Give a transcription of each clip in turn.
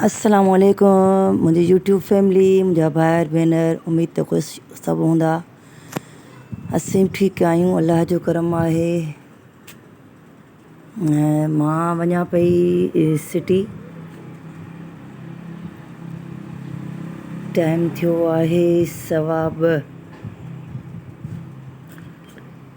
السلام عليڪم منهنجي يوٽيوب فيملي منهنجا ڀائر ڀينر اميد ته خوش سڀ هوندا اسين به ٺيڪ آهيون الله جو ڪرم آهي ۽ ماं وڃان پئي سٽي ٽائيم ٿيو آهي سوا ٻه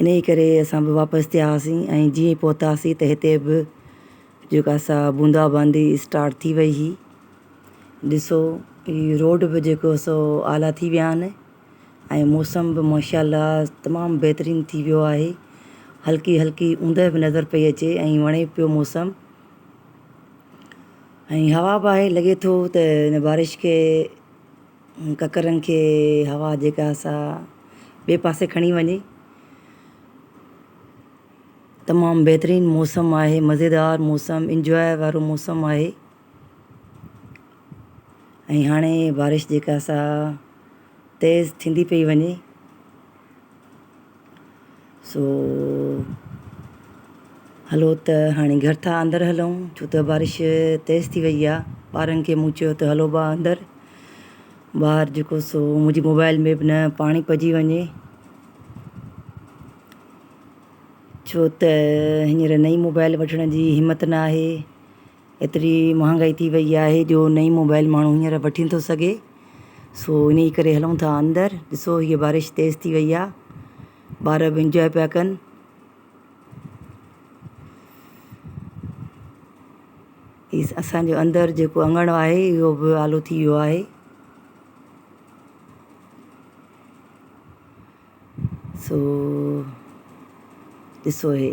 انهيء ڪري اسان به واپس ٿياسين ۽ جيئن ئي پهتاسين ته هتي به جيڪا سا بوندا باندي اسٽارٽ ٿي وئي هئي. ڏسو هي روڊ به جيڪو سو اعليٰ ٿي ويا آهن ۽ موسم به ماشاء الله تمام بهترين ٿي ويو آهي. هلڪي هلڪي اوندهه به نظر پئي اچي ۽ وڻي پيو موسم ۽ هوا به آهي لڳي ٿو ته هن بارش کي ڪڪرن کي هوا جيڪا سا ٻئي پاسي کڻي وڃي. تمام بهترين موسم آهي مزيدار موسم انجواء وارو موسم آهي ۽ هاڻي بارش جيڪا سا تيز ٿيندي پئي وڃي. سو هلو ته هاڻي گهر ٿا اندر هلون ڇو ته بارش تيز ٿي وئي آهي ٻارن کي مون چيو ته هلو ڀا اندر ٻاهر جيڪو سو منهنجي موبائل ۾ به نه پاڻي پئجي وڃي ڇو ته هينئر نئي موبائل وٺڻ جي همت نه آهي ايتري مهانگائي ٿي وئي آهي جو نه ئي موبائل ماڻهو هينئر وٺي نٿو سگهي سو انهي ڪري هلون ٿا اندر ڏسو هي بارش تيز ٿي وئي آ ٻار به انجوائي پيا ڪن هي اسان جو اندر جيڪو اڱڻ آهي اهو به آلو ٿي ويو آهي سو ڏسو هي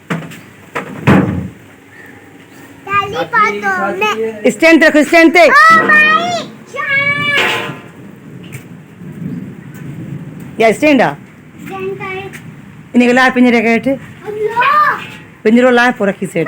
اسٽينڊ رک اسٽينڊ تي يا اسٽينڊ آ ان کي لاء پنجري کي هيٺ پنجرو لاء پورا کيس هيٺ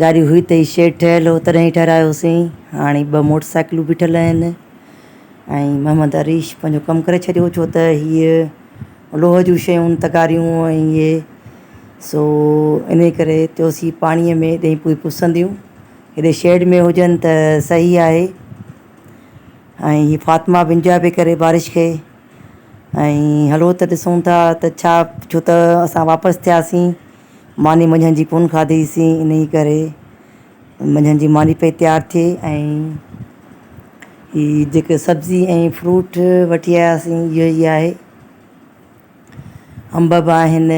گاڏي هئي ته هي شيڊ ٺهيل هو تڏهن ئي ٺهرايوسين، هاڻي ٻه موٽر سائيڪلون بيٺل آهن ۽ محمد عريش پنهنجو ڪم ڪري ڇڏيو ڇو ته هيء لوهه جون شيون تغاريون ۽ اهي سو انهي ڪري چيوسين هي پاڻيء ۾ ايڏي پوئين پسنديون هيڏي شيڊ ۾ هجن ته صحيح آهي ۽ هي فاطمه بن جاء پئي ڪري بارش کي ۽ هلو ته ڏسون ٿا ته ڇا ڇو ته اسان واپس ٿياسين ماني منجهند جي ڪونه کاڌي سين انهي ڪري منجهند جي ماني پئي تيار ٿئي ۽ هي جيڪي سبزي ۽ فروٽ وٺي آيا سين اهو ئي آهي انب به آهن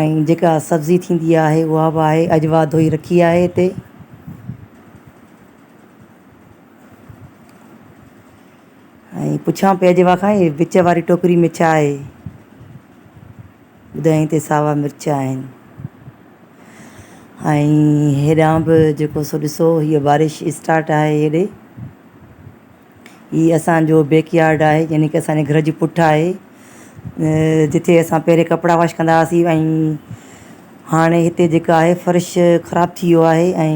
۽ جيڪا سبزي ٿيندي آهي اها به آهي اجوا ڌوئي رکي آهي هتي ۽ پڇان پئي اجوا کان هي وچ واري ٽوڪري ۾ ڇا آهي ٻڌائين تي ساوا مرچ آهن ۽ هيڏانهن به جيڪو سو ڏسو هيء بارش اسٽارٽ آهي هيڏي هي اسان جو بيڪ يارڊ آهي يعني ڪي اسان جي گهر جي پٺ آهي جتي اسان پهرين ڪپڙا واش ڪندا هئاسين ۽ هاڻي هتي جيڪا آهي فرش خراب ٿي ويو آهي ۽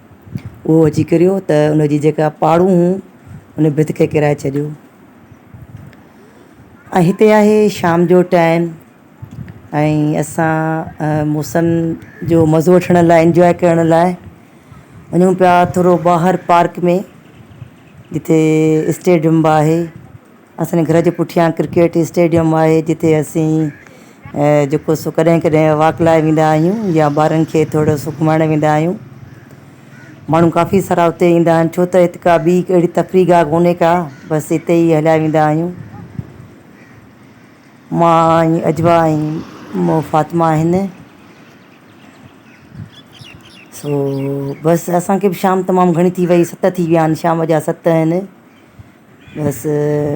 اهو اچي ڪريو ته ان جي جيڪا پاڙون هون ان ڀت کي ڪرائي ڇڏيو ۽ هتي آهي شام جو ٽائم ۽ اسان موسم جو مزو وٺڻ لاء انجوائي ڪرڻ لاء وڃون پيا ٿورو ٻاهر پارڪ ۾ جتي اسٽيڊيم به آهي اسان جي گهر جي پٺيان ڪرڪيٽ اسٽيڊيم آهي جتي اسين جيڪو سو ڪڏهن ڪڏهن واڪ لاء ويندا آهيون يا ٻارن کي ٿورڙو سو گهمائڻ ويندا آهيون ماڻهو ڪافي سارا اتي ايندا آهن ڇو ته هت ڪا ٻي اهڙي تفريح گاهه ڪونهي ڪا بس هتي ئي هليا ويندا آهيون مان ۽ اجوا ۽ مون فاطمه آهن سو بس اسان کي به شام تمام گهڻي ٿي وئي ست ٿي ويا آهن شام جا ست آهن بس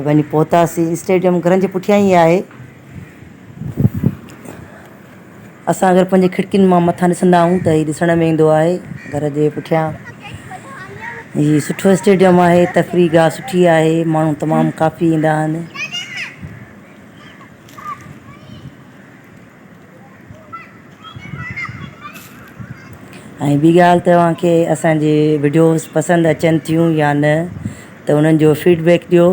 وڃي پهتاسين اسٽيڊيم گھرن جي پٺيان ئي آهي اسان اگر پنهنجي کڙڪين مان مٿان ڏسندا آهيون ته هي ڏسڻ ۾ ايندو آهي گھر جي پٺيان هي سٺو اسٽيڊيم آهي تفريح گاهه سٺي آهي ماڻهو تمام ڪافي ايندا آهن ۽ ٻي ڳالهه توهان کي اسان جي وڊيوز پسند اچن ٿيون يا نه ته انهن جو فيڊبيڪ ڏيو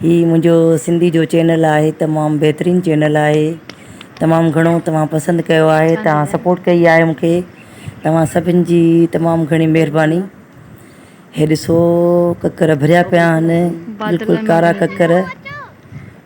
هي منهنجو سنڌي جو چينل آهي تمام بهترين چينل آهي تمام گهڻو توهان پسند ڪيو آهي توهان سپورٽ ڪئي آهي مونکي توهان سڀن جي تمام گهڻي مهرباني هي ڏسو ڪڪر ڀريا پيا آهن بلڪل ڪارا ڪڪر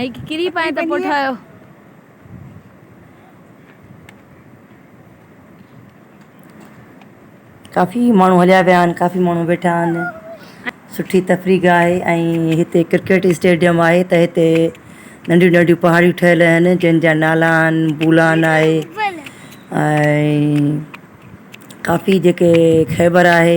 ۽ هڪ ڪري پائي ته پوء ٺاهيو. ڪافي ماڻهو هليا ويا آهن ڪافي ماڻهو ويٺا آهن سٺي تفريح گاهه آهي ۽ هتي ڪرڪيٽ اسٽيڊيم آهي ته هتي ننڍيون ننڍيون پهاڙيون ٺهيل آهن جن جا نالا آهن بولان آهي ۽ ڪافي جيڪي خيبر آهي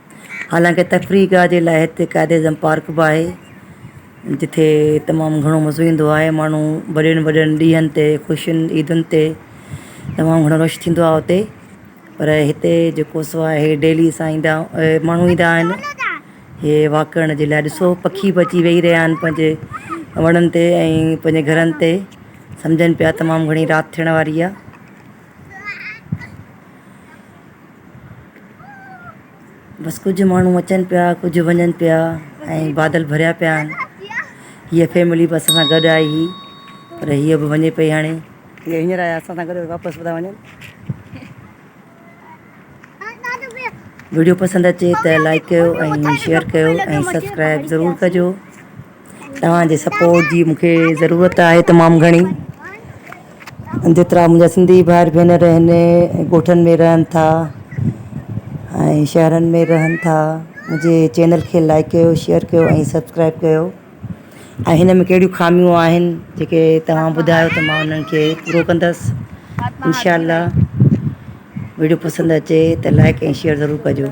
حالانڪ تفريح گاهه جي لاء هتي قائد اعظم پارڪ به آهي جتي تمام گهڻو مزو ايندو آهي ماڻهو وڏين وڏين ڏينهن تي خوشين عيدن تي تمام گهڻو رش ٿيندو آهي اتي پر هتي جيڪو سو آهي ڊيلي سان ايندا ماڻهو ايندا آهن هي واڪ ڪرڻ جي لاء ڏسو پکي به اچي ويهي رهيا آهن پنهنجي وڻن تي ۽ پنهنجي گهرن تي سمجهن پيا تمام گهڻي رات ٿيڻ واري آهي بس ڪجهه ماڻهو اچن پيا ڪجهه وڃن پيا ۽ بادل ڀريا پيا آهن هيء فيملي به اسان سان گڏ آئي هئي پر هيء به وڃي پئي هاڻي هيء هينئر آيا اسان سان گڏ واپس به ٿا وڃن ويڊيو پسند اچي ته لائيڪ ڪيو ۽ شيئر ڪيو ۽ سبسڪرائب ضرور ڪجو توهان جي سپورٽ جي مونکي ضرورت آهي تمام گهڻي جيترا منهنجا سنڌي ڀائر ڀينر آهن ڳوٺن ۾ رهن ٿا ۽ شهرن ۾ رهن ٿا منهنجي چينل کي لائيڪ ڪيو شيئر ڪيو ۽ سبسڪرائب ڪيو ۽ هن ۾ ڪهڙيون خاميون آهن جيڪي توهان ٻڌايو ته مان انهن کي پورو ڪندس انشاء الله ويڊيو پسند اچي ته لائڪ ۽ شيئر ضرور ڪجو